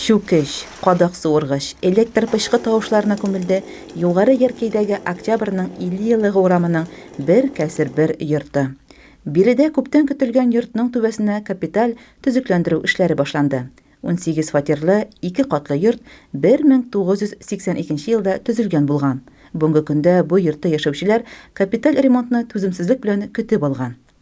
Чүкеч, кадак суыргыч, электр пычкы тавышларына күмелде Югары Яркәйдәге Октябрьнең 50 еллыгы урамының бер кәсер бер йорты. Биредә күптән көтелгән йортның түбәсенә капиталь төзекләндерү эшләре башланды. Унсигез фатирлы, ике катлы йорт 1982 елда төзелгән булган. Бүгенге көндә бу йортта яшәүчеләр капиталь ремонтны түземсезлек белән көтеп алган.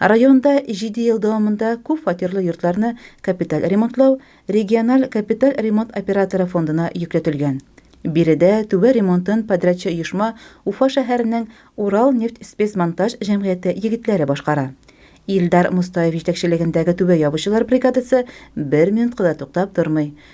Районда җиде ел дәвамында күп фатирлы йортларны капиталь ремонтлау региональ капиталь ремонт операторы фондына йөкләтелгән. Биредә түбә ремонтын подрядчы оешма Уфа шәһәренең Уралнефтьспецмонтаж җәмгыяте егетләре башкара. Илдар Мостаев җитәкчелегендәге түбә ябучылар бригадасы бер минутка да туктап тормый,